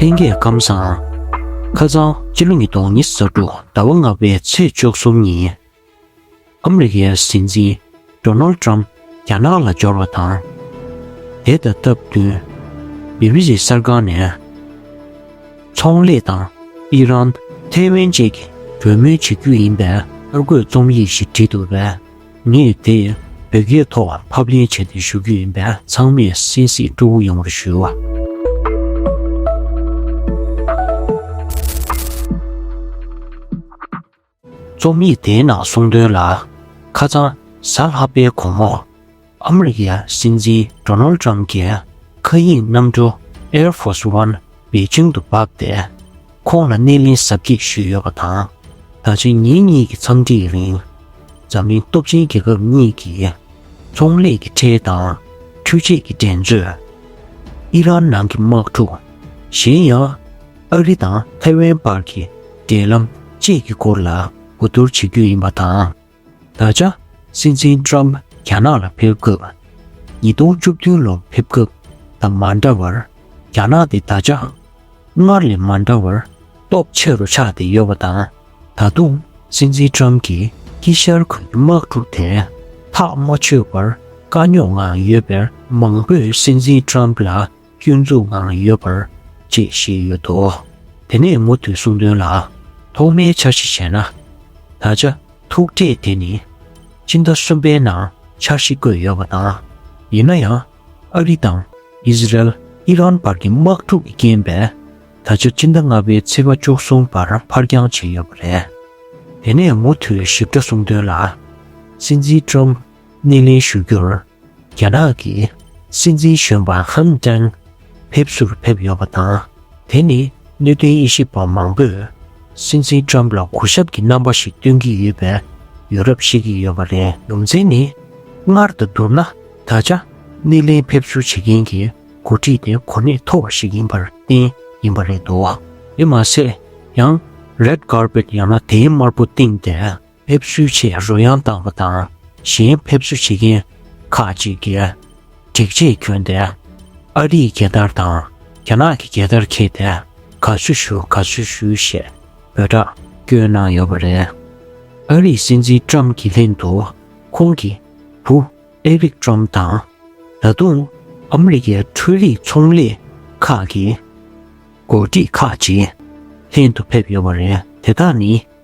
ལྷན་རྒྱས་སྐམ་བཟང། ཁ་རྩང་སྤྱི་ལོ་ཉིས་སྟོང་ཉི་ས་དྲུག་ཟླ་བ་ལྔ་པའི་ཚེས་བཅུ་གསུམ་ཉིན། ཨ་མི་རི་ཀའི་སྲིད་འཛིན Donald Trump རྒྱ་ནག་ལ་འབྱོར་བ་དང། དེ་དང་སྟབས་བསྟུན་བྷི་བྷི་སི་གསར་ཁང་ནས་ཚོང་ལས་དང་ཨི་རན། ཐའེ་ཝན་བཅས་ཀྱི་གྲོས་མོལ་བྱེད་རྒྱུ་ཡིན་པའི་གསར་འགོད་རྩོམ་ཡིག་ཞིག་བྲིས་འདུག་པས། ངས་དེ་བོད་སྐད་ཐོག་ཕབ་ལེན་བྱས་ཏེ་ཞུ་རྒྱུ་ཡིན་པས་ཚང་མས་གསན་གཟིགས་སྤྲོ་བོ་ཡོང་བར་ཞུ། རྩོམ་ཡིག་དེའི་ནང་གསུང་དོན་ལ་ཁ་ཚང་གཟའ་ལྷག་པའི་གོང་འོག་ཨ་མི་རི་ཀའི་སྲིད་འཛིན Donald Trump གྱི་མཁའ་དབྱིངས་གནམ་གྲུ Air Force One པེ་ཅིང་དུ་བབས་ཏེ། ཁོང་ལ་སྣེ་ལེན་གཟབ་རྒྱས་ཞུས་ཡོད་པ་དང། ད་ཆ་ཉིན་གཉིས་ཀྱི་འཚམས་འདྲིའི་རིང། འཛམ་གླིང་སྟོབས་ཆེན་རྒྱལ་ཁབ་གཉིས་ཀྱི་ཚོང་ལས་ཀྱི་ཁྲལ་དང་འཕྲུལ་ཆས་ཀྱི་འགྲན་རྩོད། ཨི་རན་ནང་གི་དམག་འཁྲུག། གཞན་ཡང། ཨ་རི་དང་ཐའེ་ཝན་བར་གྱི་འབྲེལ་ལམ་བཅས་ཀྱི་སྐོར་ལ་གོ་བསྡུར་བྱེད་རྒྱུ་ཡིན་པ་དང། ད་ཆ་སྲིད་འཛིན་ཀྲོམ་རྒྱ་ནག་ལ་ཕེབས་སྐབས་ཉིས་སྟོང་བཅུ་བདུན་ལོར་ཕེབས་སྐབས་དང་མ་འདྲ་བར་རྒྱ་ནག་དེ་ད་ཆའང་སྔར་ལས་མ་འདྲ་བར་སྟོབས་ཆེ་རུ་ཆགས་ཏེ་ཡོད་པ་དང་ད་དུང་སྲིད་འཛིན་ཀྲོམ་གྱིས་དཀྱིལ་ཤར་ཁུལ་གྱི་དམག་འཁྲུག་དེ་ཐག་མ་ཆོད་པར་དཀའ་རྙོག་ངང་ཡོད་པས་མང་པོས་སྲིད་འཛིན་ཀྲོམ་ལ་སྐྱོན་འཛུགས་ངང་ཡོད་པར་བཅས་ཞེས་ཡོད་དོ། དེ་ནས་མུ་མཐུད་གསུང་དོན་ལ། ཐོག་མའི་འཆར་གཞི་བྱས་ན། ད་ཆ་ཐུག་འཕྲད་དེ་ནི་ཕྱི་ཟླ་གསུམ་པའི་ནང་འཆར་གཞི་བཀོད་ཡོད་པ་དང། ཡིན་ན་ཡང་ཨ་རི་དང་ཨིས་རལ་ཨི་རན་བར་གྱི་དམག་འཁྲུག་གི་རྐྱེན་པས་ད་ཆ་ཕྱི་ཟླ་ལྔ་པའི་ཚེས་པ་བཅུ་གསུམ་བར་འཕར་འགྱངས་བྱས་ཡོད་པ་རེད། དེ་ནས་མུ་མཐུད་ཞིབ་ཕྲ་གསུང་དོན་ལ། སྲིད་འཛིན་ཀྲོམ་ནི་ལན་ཞུ་རྒྱུར་རྒྱ་ནག་གི་སྲིད་འཛིན་གཞོན་པ་ཧན་ཀྲེང་ཕེབས་བསུར་ཕེབས་ཡོད་པ་དང། དེ་ནི་གནད་དོན་དབྱེ་ཞིབ་པ་མང་པོས་སྲིད་འཛིན Trump ལ་གོ་ཞབས་ཀྱི་རྣམ་པ་ཞིག་སྟོན་གྱི་ཡོད་པའི་ཡོད་རབས་བཤད་ཀྱི་ཡོད་པ་རེད། ཡོངས་འཛིན་ནི་སྔར་དང་བསྡུར་ན་ད་ཆ་སྣེ་ལེན་ཕེབས་བསུ་བྱེད་མཁན་གྱི་འགོ་ཁྲིད་དེ་གོ་གནས་མཐོ་བ་ཞིག་ཡིན་པར་བརྟེན་ཡིན་པ་རེད་འདུག་དེ་མ་ཟད་ཡང Red Carpet ཡང་ན་དེའི་དམར་པོ་སྟེང་དེ་ཕེབས་བསུའི་ཆེད་རོལ་དབྱངས་བཏང་བ་དང་གཞན་ཕེབས་བསུ་བྱེད་མཁན་ཁག་ཅིག་གིས་སྒྲིག་ཆས་གྱོན་ཏེ་ཨ་རིའི་རྒྱལ་དར་དང་རྒྱ་ནག་གི་རྒྱལ་དར་འཁྱེར་ཏེ་དགའ་བསུ་ཞུ་དགའ་བསུ་ཞུ་ཞེས་འབོད་སྒྲ་བསྐྱོན་གནང་ཡོད་པ་རེད། ཨ་རིའི་སྲིད་འཛིན་ཀྲམ་གྱི་ལྷན་དུ་ཁོང་གི་བུ་ཨེ་རིག་ཀྲམ་དང། ད་དུང་ཨ་མི་རི་ཀའི་འཕྲུལ་རིག་ཚོང་ལས་ཁག་གི་མགོ་ཁྲིད་ཁག་ཅིག་ལྷན་དུ་ཕེབས་ཡོད་པ་རེད། དེ་དག་ནི།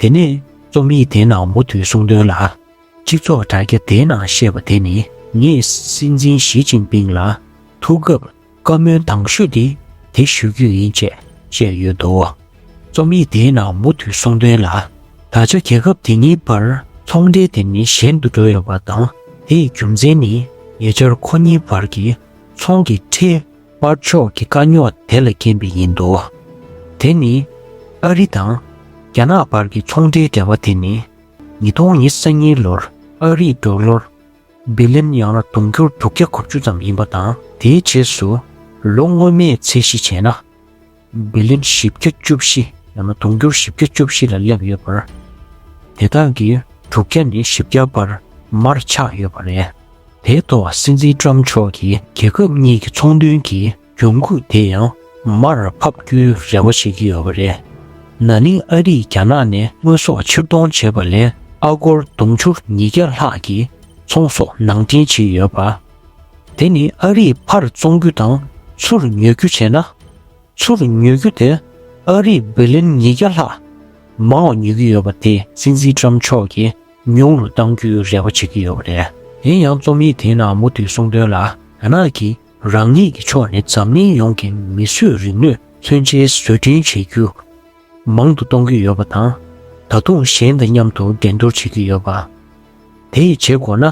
དེ་ནས་རྩོམ་ཡིག་དེ་ནང་མུ་མཐུད་གསུང་དོན་ལ། སྤྱི་ཚོགས་དྲ་རྒྱ་དེའི་ནང་བཤད་པ་དེ་ནི། ངས་སྲིད་འཛིན་ཞི་ཅིང་ཕིང་ལ་ཐུག་སྐབས་བཀའ་མོལ་དང་ཤོས་དེ་དེ་ཞུ་རྒྱུ་ཡིན་ཅེས་བཤད་ཡོད་འདུག་རྩོམ་ཡིག་དེའི་ནང་མུ་མཐུད་གསུང་དོན་ལ། ད་ཆ་རྒྱལ་ཁབ་དེ་གཉིས་བར་ཚོང་འབྲེལ་དེ་ནི་ཞན་དུ་འགྲོ་ཡོད་པ་དང་དེའི་རྒྱུ་མཚན་ནི་ཉེ་ཆར་ཁོ་གཉིས་བར་གྱི་ཚོང་གི་ཁྲལ་པར་ཕྱོགས་ཀྱི་དཀའ་རྙོག་དེ་ལ་རྐྱེན་པས་ཡིན་འདུག་དེ་ནི། ཨ་རི་དང་རྒྱ་ནག་བར་གྱི་ཚོང་འབྲེལ་འབྲེལ་བ་དེ་ནི། ཉིས་སྟོང་ཉི་ས་གཉིས་ལོར་ཨ་རིས་འབྲུག་ལོར་སྦི་ལིན་ཡང་ན་དུང་སྒྱུར་དྲུག་བརྒྱ་གོ་བཅུ་ཙམ་ཡིན་པ་དང་དེའི་རྗེས་སུ་ལོ་སྔོན་མའི་ཚད་གཞི་བྱས་ན། བི་ལིན་བཞི་བརྒྱ་བཅུ་བཞི་ཡང་ན་དུང་ཕྱུར་བཞི་བརྒྱ་བཅུ་བཞི་ལ་སླེབས་ཡོད་པར། དེ་དག་གི་དྲུག་བརྒྱ་ནི་བཞི་བརྒྱ་བར་མར་ཆགས་ཡོད་པ་རེད། དེའི་ཐོག་སྲིད་འཛིན་ཀྲམ་མཆོག་གིས་རྒྱལ་ཁབ་གཉིས་ཀྱི་ཚོང་དོན་གྱི་གྱོང་གུད་དེ་ཡང་མར་ཕབ་རྒྱུའི་རེ་བ་བྱེད་ཀྱི་ཡོད་པ་རེད། ན་ནིང་ཨ་རིས་རྒྱ་ནག་ནས་དངོས་ཟོག་ཕྱིར་གཏོང་བྱས་པ་ལས་ཨ་སྒོར་དུང་ཕྱུར་ཉིས་བརྒྱ་ལྷག་གི་ཚོང་ཟོག་ནང་འདྲེན་བྱས་ཡོད་པ། དེ་ནི་ཨ་རིས་ཕར་བཙོང་རྒྱུ་དང་ཚུར་ཉོ་རྒྱུ་བྱས་ན། ཚུར་ཉོ་རྒྱུ་དེ་ཨ་རིས་བི་ལིན་ཉིས་བརྒྱ་ལྷག་མང་བ་ཉོ་གི་ཡོད་པ་དེ་སྲིད་འཛིན་ཀྲམ་མཆོག་གིས་ཉུང་རུ་གཏང་རྒྱུའི་རེ་བ་བྱེད་ཀྱི་ཡོད་པ་རེད། ཡིན་ཡང་རྩོམ་ཡིག་དེའི་ནང་མུ་མཐུད་གསུང་དོན་ལ། རྒྱ་ནག་གིས་རང་ཉིད་ཀྱི་ཕྱོགས་ནས་འཛམ་གླིང་ཡོངས་ཀྱི་མིས་བཟོས་རིག་ནུས་མཚོན་ཆའི་བཟོ་སྐྲུན་བྱེད་རྒྱུ། མང་དུ་གཏོང་གི་ཡོད་པ་དང་ད་དུང་གཞན་དང་མཉམ་དུ་འགྲན་བསྡུར་བྱེད་ཀྱི་ཡོད་པ། དེ་ཡི་བྱེད་སྒོ་ན།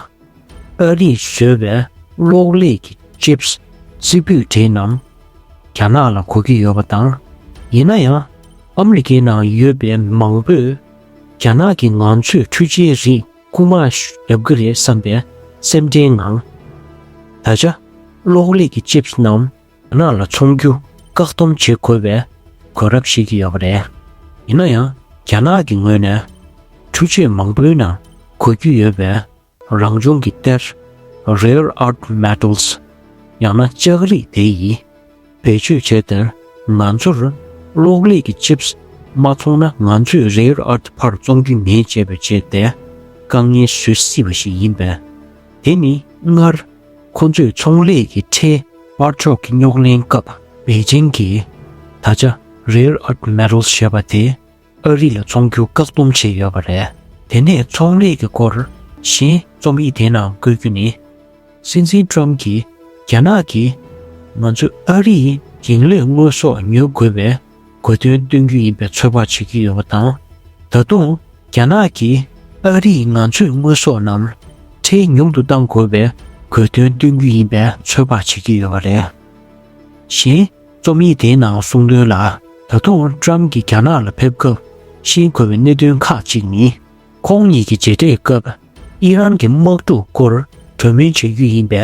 ཨ་རིས་བཟོས་པའི་གློག་ཀླད་ཀྱི Chips རྩིག་པོད་དེ་རྣམས་རྒྱ་ནག་ལ་གོ་གི་ཡོད་པ་དང། ཡིན་ན་ཡང་ཨ་མི་རི་ཀའི་ནང་ཡོད་པའི་མང་པོས་རྒྱ་ནག་གིས་ང་ཚོས་འཕྲུལ་ཆས་རིགས་རྐུ་མ་རྒྱབ་ཀྱི་རེད་བསམ་པའི་སེམས་ཁྲལ་ངང། ད་ཆ་གློག་ཀླད་ཀྱི Chips རྣམས་རྒྱ་ནག་ལ་ཚོང་རྒྱུ་བཀག་སྡོམ་བྱེད་དགོས་པའི་གོ་རབས་ཤིག་ཡོད་པ་རེད། ཡིན་ན་ཡང་རྒྱ་ནག་གི་ངོས་ནས་འཕྲུལ་ཆས་མང་པོའི་ནང་གོ་རྒྱུ་ཡོད་པའི་རང་བྱུང་གི་གཏེར། Rare Earth Metals། ཡང་ན་ལྕགས་རིགས་དེ་ཡིས་བེད་སྤྱོད་བྱས་དེར་ང་ཚོར་གློག་ཀླད་ཀྱི Chips མ་ཚོང་ན་ང་ཚོས Rare Earth ཕར་བཙོང་རྒྱུ་མེད་ཅེས་པའི་ཆེད་དེ་དཀའ་ངལ་བཟོས་སྲིད་པ་ཞིག་ཡིན་པས་དེ་ནི་སྔར་ཁོ་ཚོས་ཚོང་ལས་ཀྱི་ཁྲལ་དཔར་ཕྱོགས་ཀྱི་རྙོག་གླེང་སྐབས་པེ་ཅིང་གིས་ད་ཆ Rare Earth Metals ཞེས་པ་དེ་ཨ་རི་ལ་ཚོང་རྒྱུ་བཀག་སྡོམ་བྱས་ཡོད་པ་རེད། དེ་ནས་ཚོང་ལས་ཀྱི་སྐོར་གཞན་རྩོམ་ཡིག་དེའི་ནང་བཀོད་རྒྱུ་ནི། སྲིད་འཛིན Trump གྱིས་རྒྱ་ནག་གིས་ང་ཚོས་ཨ་རིའི་འགྱིང་ལས་དངོས་ཟོག་ཉོ་དགོས་པའི་གོ་དོན་སྟོན་རྒྱུ་ཡིན་པའི་ཚོད་དཔག་བྱེད་ཀྱི་ཡོད་པ་དང། ད་དུང་རྒྱ་ནག་གིས་ཨ་རིས་ང་ཚོས་དངོས་ཟོག་རྣམས་ཁྲལ་ཉུང་དུ་གཏང་དགོས་པའི་གོ་དོན་སྟོན་རྒྱུ་ཡིན་པའི་ཚོད་དཔག་བྱེད་ཀྱི་ཡོད་པ་རེད། གཞན། རྩོམ་ཡིག་དེའི་ནང་གསུངས་དོན་ལ་ད་དུང Trump གྱིས་རྒྱ་ནག་ལ་ཕེབས་སྐབས་ཤེས་དགོས་པའི་གནད་དོན་ཁག་ཅིག་ནི། ཁོང་གཉིས་ཀྱི་མཇལ་འཕྲད་སྐབས་ཨི་རན་གྱི་དམག་འཁྲུག་སྐོར་གྲོས་མོལ་བྱེད་རྒྱུ་ཡིན་པའི་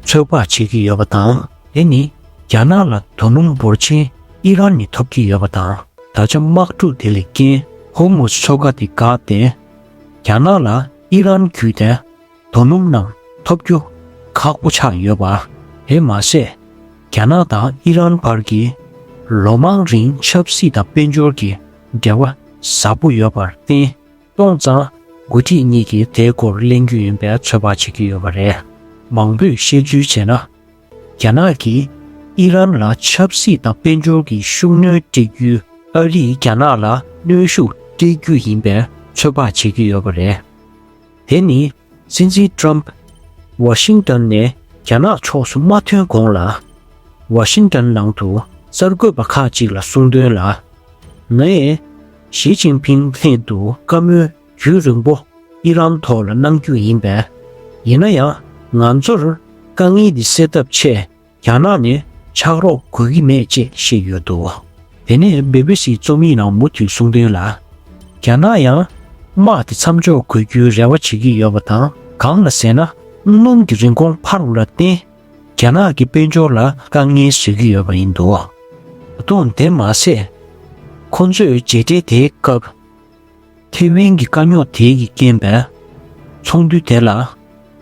ཚོད་དཔག་བྱེད་ཀྱི་ཡོད་པ་དང། དེ་ནི་རྒྱ་ནག་ལ་དོ་སྣང་འབོར་ཆེན་ཨི་རན་ནས་ཐོབ་ཀྱི་ཡོད་པ་དང་ད་ཆ་དམག་འཁྲུག་དེ་ལས་རྐྱེན་ཧོར་མུས་མཚོ་ཁ་དེ་བཀག་སྟེ་རྒྱ་ནག་ལ་ཨི་རན་བརྒྱུད་དེ། དོ་སྣུམ་རྣམས་ཐོབ་རྒྱུ་ཁག་པོ་ཆགས་ཡོད་པ། དེ་མ་ཟད་རྒྱ་ནག་དང་ཨི་རན་བར་གྱི་ལོ་མང་རིང་ཆབ་སྲིད་དང་དཔལ་འབྱོར་གྱི་འབྲེལ་བ་ཟབ་པོ་ཡོད་པར་བརྟེན་སྟོང་ཙང་འགོ་ཁྲིད་གཉིས་ཀྱིས་དེའི་སྐོར་གླེང་རྒྱུ་ཡིན་པའི་ཚོད་དཔག་བྱེད་ཀྱི་ཡོད་པ་རེད། མང་པོས་བཤད་ཚུལ་བྱས་ན། རྒྱ་ནག་གིས་ཨི་རན་ལ་ཆབ་སྲིད་དང་དཔལ་འབྱོར་གྱི་ཤུགས་སྣོན་སྤྲད་རྒྱུས་ཨ་རིས་རྒྱ་ནག་ལ་གནོན་ཤུགས་སྤྲད་རྒྱུ་ཡིན་པའི་ཚོད་དཔག་བྱེད་ཀྱི་ཡོད་པ་རེད། དེ་ནི་སྲིད་འཛིན་ཀྲོམ་པས་ཝ་ཤིང་ཏོན་ནས་རྒྱ་ནག་ཕྱོགས་སུ་མ་ཐོན་གོང་ལ། ཝ་ཤིང་ཏོན་ནང་དུ་གསར་འགོད་པ་ཁག་ཅིག་ལ་གསུང་དོན་ལ། ངས་ཞི་ཅིང་ཕིང་སླད་དུ་བཀའ་མོལ་རྒྱུན་རིང་པོ་ཨི་རན་ཐོག་ལ་གནང་རྒྱུ་ཡིན་པས། ཡིན་ན་ཡང་ང་ཚོར་དཀའ་ངལ་འདི་སེལ་ཐབས་ཆེད་རྒྱ་ནག་ནས་ཕྱག་རོགས་དགོས་ཀྱི་མེད་ཅེས་བཤད་ཡོད་འདུག་དེ་ནས་སྦི་བི་སིའི་རྩོམ་ཡིག་ནང་མུ་མཐུད་གསུང་དོན་ལ། རྒྱ་ནག་ཡང་དམག་དེ་མཚམས་འཇོག་དགོས་རྒྱུའི་རེ་བ་བྱེད་ཀྱི་ཡོད་པ་དང་གང་ལ་ཟེར་ན་སྣུམ་གྱི་རིན་གོང་འཕར་བ་ལ་བརྟེན་རྒྱ་ནག་གི་དཔལ་འབྱོར་ལ་དཀའ་ངལ་བཟོས་ཀྱི་ཡོད་པ་ཡིན་འདུག་ད་དུང་དེ་མ་ཟད་ཁོང་ཚོས་མཇལ་འཕྲད་དེའི་སྐབས། ཐེ་ཝན་གྱི་དཀའ་རྙོག་དེ་ཡིས་རྐྱེན་པས་ཚོགས་འདུ་དེ་ལ་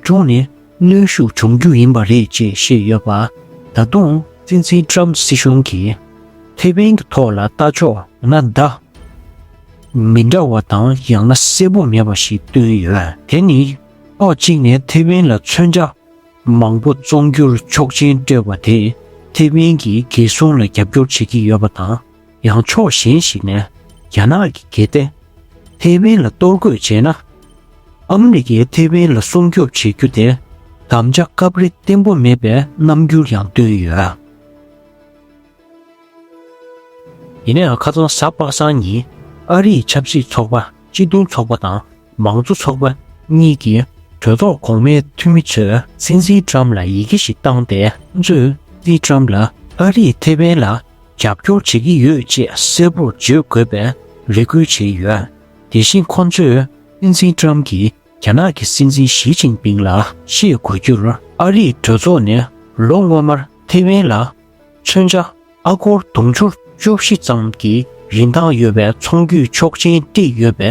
ཅུང་ནས་གནོན་ཤུགས་འབྱུང་རྒྱུ་ཡིན་པ་རེད་ཅེས་བཤད་ཡོད་པ། ད་དུང་སྲིད་འཛིན Trump སྲིད་གཞུང་གིས་ཐེ་ཝན་གྱི་ཐོག་ལ་ལྟ་ཕྱོགས་ཡང་ན་བརྡ་མི་འདྲ་བ་དང་ཡང་ན་གསལ་པོ་མེད་པ་ཞིག་བཏོན་ཡོད། དེ་ནི་ཕྱོགས་གཅིག་ནས་ཐེ་ཝན་ལ་མཚོན་ཆ་མང་པོ་བཙོང་རྒྱུར་ཆོག་མཆན་སྤྲོད་པ་དེས་ཐེ་ཝན་གྱི་རྒྱལ་སྲུང་ལ་རྒྱབ་སྐྱོར་བྱེད་ཀྱི་ཡོད་པ་དང། ཡང་ཕྱོགས་གཞན་ཞིག་ནས་རྒྱ་ནག་གི་སྒེར་བདེན་ཐེ་ཝན་ལ་གཏོར་རྒོལ་བྱས་ན། ཨ་མི་རི་ཀས་ཐེ་ཝན་ལ་སྲུང་སྐྱོབ་བྱེད་རྒྱུ་དེ་དམ་བཅའ་སྐབས་རེ་བརྟན་པོ་མེད་པའི་རྣམ་འགྱུར་ཡང་སྟོན་ཡོད། ཡིན་ནའང་ཁ་སང་གཟའ་པ་སངས་ཉིན་ཨ་རིའི་ཆབ་སྲིད་ཚོགས་པ་སྤྱི་མཐུན་ཚོགས་པ་དང་མང་གཙོ་ཚོགས་པ་གཉིས་ཀྱི་གྲོས་ཚོགས་གོང་མའི་འཐུས་མི་ཚོས་སྲིད་འཛིན་ཀྲམ་ལ་ཡི་གེ་ཞིག་བཏང་སྟེ་སྲིད་འཛིན་ཀྲམ་ལ་ཨ་རིས་ཐེ་ཝན་ལ་རྒྱབ་སྐྱོར་བྱེད་ཀྱི་ཡོད་ཅེས་གསལ་པོར་བརྗོད་དགོས་པའི་རེ་སྐུལ་བྱས་ཡོད། དེ་བཞིན་ཁོ་ཚོས་སྲིད་འཛིན་ཀྲམ་གྱིས་རྒྱ་ནག་གི་སྲིད་འཛིན་ཞི་ཅིང་ཕིང་ལ་ཤེས་དགོས་རྒྱུར་ཨ་རིས་གྲོས་ཚོགས་ནས་ལོ་སྔོན་མར་ཐེ་ཝན་ལ་མཚོན་ཆ་ཨ་སྒོར་དུང་ཕྱུར་བཅུ་བཞི་ཙམ་གྱི་རིན་ཐང་ཡོད་པའི་ཚོང་བརྒྱུད་ཆོག་མཆན་སྤྲད་ཡོད་པའི་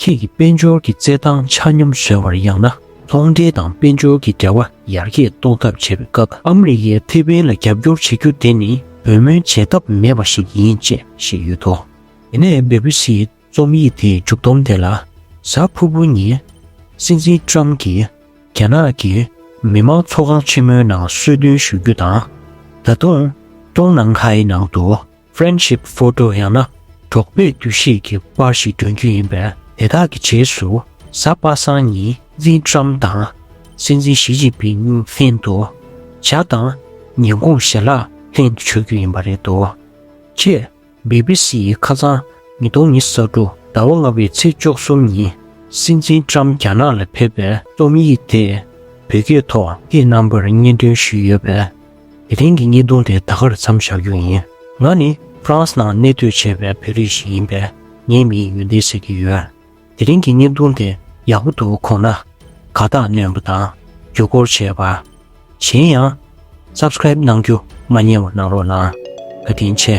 ཁྱེད་ཀྱིས་དཔལ་འབྱོར་གྱི་རྩེད་ཐང་ཆ་སྙོམས་བཟོས་བར་ཡང་ན་ཚོང་འབྲེལ་དང་དཔལ་འབྱོར་གྱི་འབྲེལ་བ་ཡར་རྒྱས་གཏོང་ཐབས་བྱེད་པའི་སྐབས་ཨ་མི་རི་ཀས་ཕེ་པིན་ལ་རྒྱབ་སྐྱོར་བྱེད་རྒྱུ་དེ་ནི་འབོད་སྨོན་བྱེད་ཐབས་མེད་པ་ཞིག་ཡིན་ཅེས་བཤད་ཡོད་དོ། དེ་ནས་སྦི་བྷི་སིའི་རྩོམ་ཡིག་དེའི་མཇུག་བསྡོམས་དེ་ལ་གཟའ་ཕུར་བུ་ཉིན་སྲིད་འཛིན་ཀྲམ་གྱིས་རྒྱ་ནག་གི་མི་དམངས་ཚོགས་ཁང་ཆེན་མོའི་ནང་གསོལ་སྟོན་ཞུ་རྒྱུ་དང། ད་དུང་ཀྲོང་ནང་ཁའི་ནང་དུ། Friendship Photo ཡང་ན་གྲོགས་པོས་བསྡུས་ཤིག་གི་པར་ཞིག་བསྒྲོན་རྒྱུ་ཡིན་པས་དེ་དག་གི་རྗེས་སུ་གཟའ་པ་སངས་ཉིན་ཙིན་ཀྲམ་དང་སྲིད་འཛིན་ཞི་ཅིན་ཕིན་ལྷན་དུ་ཇག་དང་ཉེན་ཁུངས་ཞལ་ལག་ལྷན་དུ་མཆོད་རྒྱུ་ཡིན་པ་རེད་འདུག་ཅེས་སྦི་སྦི་སི་ཡིས་ཁ་སང་ཉིས་སྟོང་ཉི་ས་དྲུག་ཟླ་བ་ལྔ་པའི་ཚེས་བཅོ་གསུམ་ཉིན་སྲིད་འཛིན་ཀྲམ་རྒྱ་ནག་ལ་ཕེབས་པའི་རྩོམ་ཡིག་དེ་བོད་སྐད་ཐོག་གི་རྣམ་པར་སྙན་སྒྲོན་ཞུས་ཡོད་པས། དེ་རིང་གི་གཉིས་སྟོང་དེ་ད་གར་མཚམས་བཞག་རྒྱུ་ཡིན། ང་ནི France ནང་གནས་སྡོད་བྱས་པའི་བོད་རིགས་ཤིག་ཡིན་པས་ངའི་མིང་ཡོན་ཏན་ཟེར་གྱི་ཡོད། དེ་རིང་གི་གཉིས་སྟོང་དེ་ཡག་པོ་འདུག་གོང་ན་དགའ་རྟགས་བསྣོན་པ་དང་རྒྱུ་སྐོར་བྱས་པ། གཞན་ཡང Subscribe གནང་རྒྱུ་མ་ཉེས་བ་གནང་རོགས་གནང། དགའ་དྲིན་ཆེ།